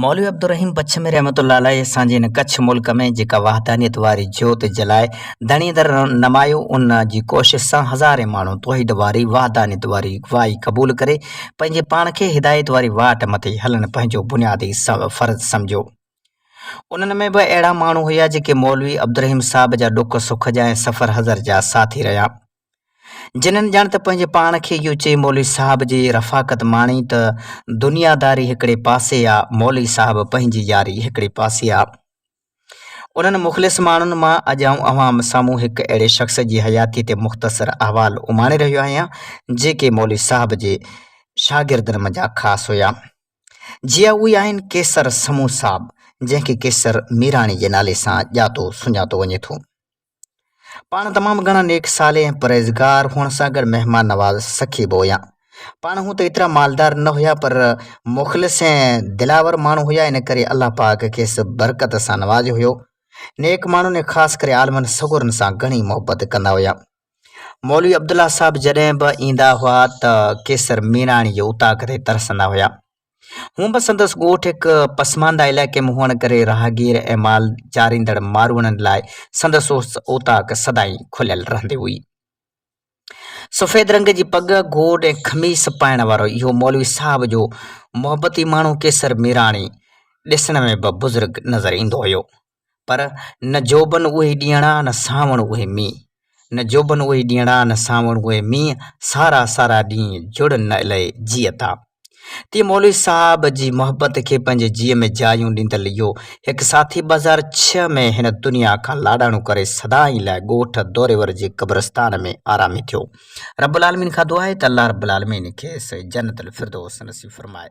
مولوي عبدالرحيم بڇ ۾ رحمت الله عليه اسان جي هن ڪڇ ملڪ ۾ جيڪا وحدانيت واري جوت جلائي ڌڻي در نمايو ان جي ڪوشش سان هزارين ماڻهو توحيد واري وحدانيت واري واهي قبول ڪري پنهنجي پاڻ کي هدايت واري واٽ مٿي هلڻ پنهنجو بنيادي فرض سمجهيو انهن ۾ به اهڙا ماڻهو هيا جيڪي مولوي عبدالرحيم صاحب جا ڏک سک جا ۽ سفر حضر جا ساٿي رهيا جنھن ڄڻ ته پنھنجي پاڻ کي اھو چئي مولوي صاحب جي رفاقت ماڻي ته دنياداري ھڪڙي پاسي آ، مولوي صاحب پنھنجي ياري ھڪڙي پاسي آ. انھن مخلص ماڻھن مان اڄ آئون اوھان سامھون ھڪ اھڙي شخص جي حياتيء تي مختصر احوال اماڻي رھيو آھيان، جيڪي مولوي صاحب جي شاگردن منجھان خاص ھيا. جي اھي آھن قيصر سمون صاحب، جنھن کي قيصر ميراڻي جي نالي سان ڄاتو سڃاتو وڃي ٿو. پاڻ تمام گهڻا نيڪ صالح ۽ پرهيزگار هئڻ سان گڏ مهمان نواز سخي به هيا. پاڻ هونء ته ايترا مالدار نه هيا پر مخلص ۽ دلاور ماڻهو هيا ان ڪري الله پاڪ کيس برڪت سان نوازيو هيو. نيڪ ماڻهن ۽ خاص ڪري عالمن سڳورن سان گهڻي محبت ڪندا هيا. مولوي عبدالله صاحب جڏهن به ايندا هئا ته قيصر ميراڻي جي اوطاق تي ترسندا هيا. هونء به سندس ڳوٺ هڪ پسمانده علائقي ۾ هئڻ ڪري راهگير ۽ مال چاريندڙ ماروئڙن لاء سندس اوطاق سدائين کليل رهندي هئي. سفيد رنگ جي پڳ، گوڏ ۽ خميس پائڻ وارو اهو مولوي صاحب جو محبتي ماڻهو ڪيسر ميراڻي ڏسڻ ۾ به بزرگ نظر ايندو هيو. پر نه جوڀن اهي ڏينهڙا نه سانوڻ اهي مينهن نه جوڀن اهي ڏينهڙا نه سانوڻ اهي مينهن سارا سارا ڏينهن جڙ نه الئي جيئتا. تيئن مولوي صاحب جي محبت کي پنهنجي جيء ۾ جايون ڏيندل اهو هڪ ساٿي ٻه هزار ڇهه ۾ هن دنيا کان لاڏاڻو ڪري سدائين لاء ڳوٺ دوريور جي قبرستان ۾ آرامي ٿيو. رب العالمين کان دعا آهي ته الله رب العالمين کيس جنت الفردوس نصيب فرمائي.